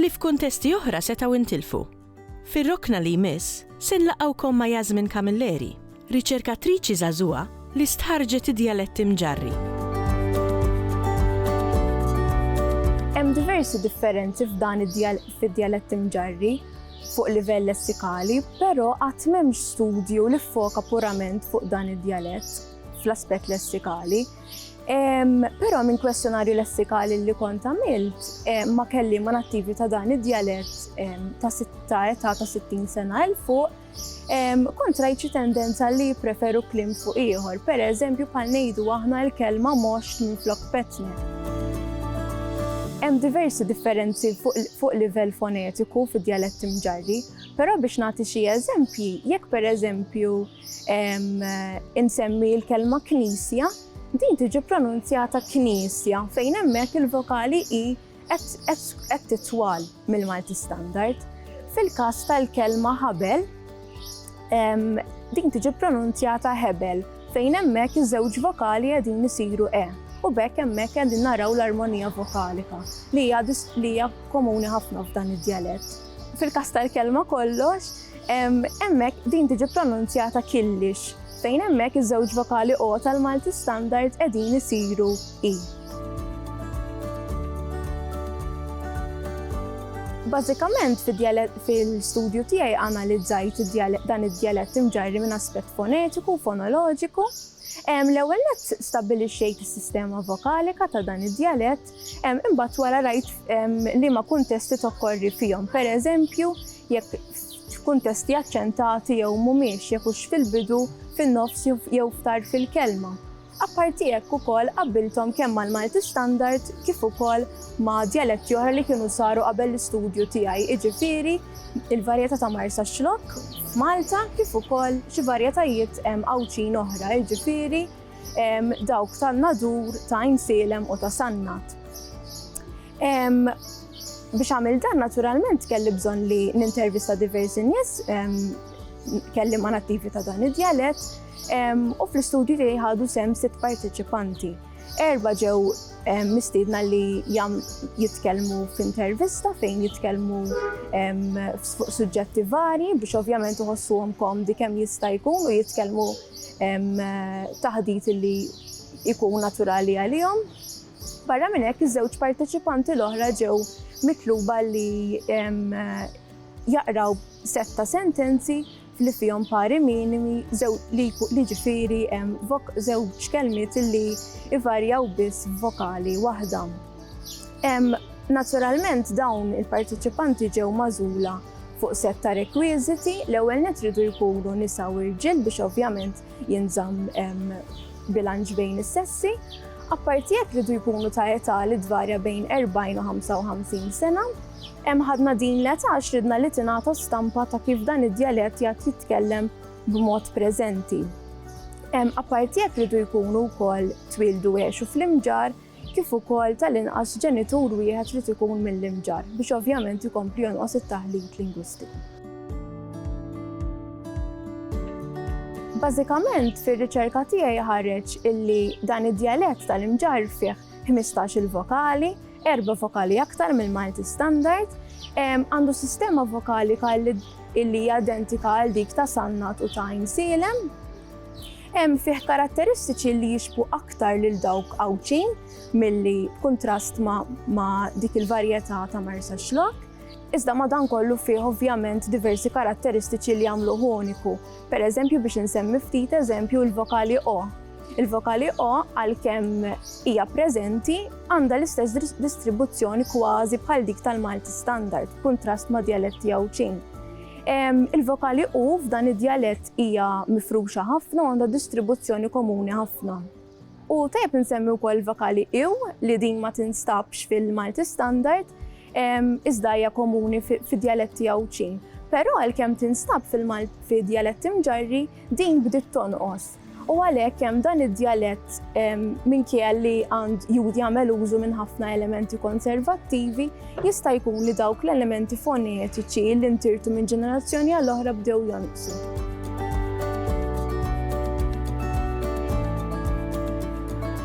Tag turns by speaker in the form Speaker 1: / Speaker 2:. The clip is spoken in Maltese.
Speaker 1: li f'kuntesti oħra setgħu intilfu. Fir-rokna li jmiss, se nlaqgħukom ma' Yasmin Camilleri, riċerkatriċi żagħżugħa li stħarrġet id-djaletti Mġarri. Hemm diversi differenzi f'dan id-djaletti Mġarri fuq livell lessikali, però qatt m'hemmx studju li ffoka purament fuq dan id-djalett fl-aspett lessikali. Però minn kwestjonarju lessikali li kont għamilt eh, ma kelli ma nattivi ta' dan id-dialett ta' sitta età ta' 60 sena il fuq kont rajt xi tendenza li preferu klim fuq ieħor, per eżempju bħal ngħidu aħna l-kelma moxt minn flok petni. Hemm diversi differenzi fuq livell fonetiku fid-dialett imġarri, però biex nagħti xi eżempji, jekk per eżempju Insemmi l-kelma knisja, din tiġi pronunzjata knisja fejn hemmhekk il-vokali i qed titwal mill-Malti Standard. Fil-każ tal-kelma ħabel, din tiġi pronunzjata hebel fejn hemmhekk iż-żewġ vokali qegħdin isiru e u b'hekk hemmhekk qegħdin naraw l-armonija vokalika li hija komuni ħafna f'dan id-djalett. Fil-każ tal-kelma kollox, hemmhekk din tiġi pronunzjata killix, fejn hemmhekk iż-żewġ vokali o tal-Malti Standard qegħdin isiru i. Bażikament fil-studju tiegħi analizzajt dan id-djalett imġarri minn aspett fonetiku u fonoloġiku. L-ewwel nett stabbilixxejt is-sistema vokalika ta' dan id-djalett Imbagħad wara rajt liema kuntesti tokkorri fihom. Pereżempju, jekk f'kuntesti aċċentati jew mhumiex, jekk hux fil-bidu, fin-nofs jew f'tarf il-kelma. Apparti hekk ukoll qabbilthom kemm mal-Malti Standard kif ukoll ma' djaletti oħra li kienu saru qabel l-istudju tiegħi, jiġifieri l-varjetà ta' Marsaxlokk f'Malta kif ukoll xi varjetajiet Għawdxin oħra, jiġifieri dawk tan-Nadur, ta' Għajn Sielem u ta' Sannat. Biex għamil dan naturalment kelli bżonn li nintervista diversi nies kelli ma' nattivi ta' dan id-djalet u fl-istudju tiegħi ħadu sem sitt parteċipanti. Erba ġew mistiedna li jam jitkellmu f'intervista fejn jitkellmu fuq suġġetti vari biex ovvjament uħossuhom komdi kemm jista' jkun u jitkellmu taħdit li jkun naturali għalihom. Barra minn hekk, iż-żewġ parteċipanti l-oħra ġew mitluba li jaqraw sett ta' sentenzi li fihom pari minimi li ġifieri żewġ kelmiet li ivarjaw biss vokali waħda. Naturalment dawn il-parteċipanti ġew magħżula fuq sett ta' rekwiżiti, l-ewwel nett iridu jkunu nisa u rġiel biex ovvjament jinżamm bilanċ bejn is-sessi. Apparti hekk iridu jkunu ta' età li tvarja bejn 40 u 55 sena. Hemm ħadna din l-età għax ridna li tingħata stampa ta' kif dan id-djalett jgħad jitkellem b'mod preżenti. Apparti hekk iridu jkunu wkoll twieldu u għexu fl-Imġarr, kif ukoll tal-inqas ġenitur wieħed irid ikun mill-Imġarr biex ovvjament ikompli jonqos it-taħlit lingwistiku. Bażikament fir-riċerka tiegħi ħareġ illi dan id-djalett tal-Imġarr fih ħmistax-il vokali, erba' vokali aktar mill-Malti Standard, għandu sistema vokali illi hija identika għal dik ta' Sannat u ta' Għajnsielem. Hemm fih karatteristiċi li jixbhu aktar lil dawk Għawdxin milli b'kuntrast ma' dik il-varjetà ta' Marsaxlokk, iżda madankollu fih ovvjament diversi karatteristiċi li jagħmluh uniku. Pereżempju biex insemmi ftit eżempju il-vokali o. Il-vokali o għalkemm hija preżenti għandha l-istess distribuzzjoni kważi bħal dik tal-Malti Standard b'kuntrast ma' djaletti Għawdxin. Il-vokali u f'dan id-djalett hija mifruxa ħafna u għandha distribuzzjoni komuni ħafna. U tajjeb insemmi wkoll vokali iw li din ma tinstabx fil-Malti Standard, iżda hija komuni fid-djaletti Għawdxin. Però għalkemm tinstab fil-djaletti Mġarri, din bdiet tonqos. U għalhekk hemm dan id-djalett minkejja li għand jud jagħmel użu minn ħafna elementi konservattivi, jista' jkun li dawk l-elementi fonetiċi li ntirtu minn ġenerazzjoni għal oħra bdew jonqsu.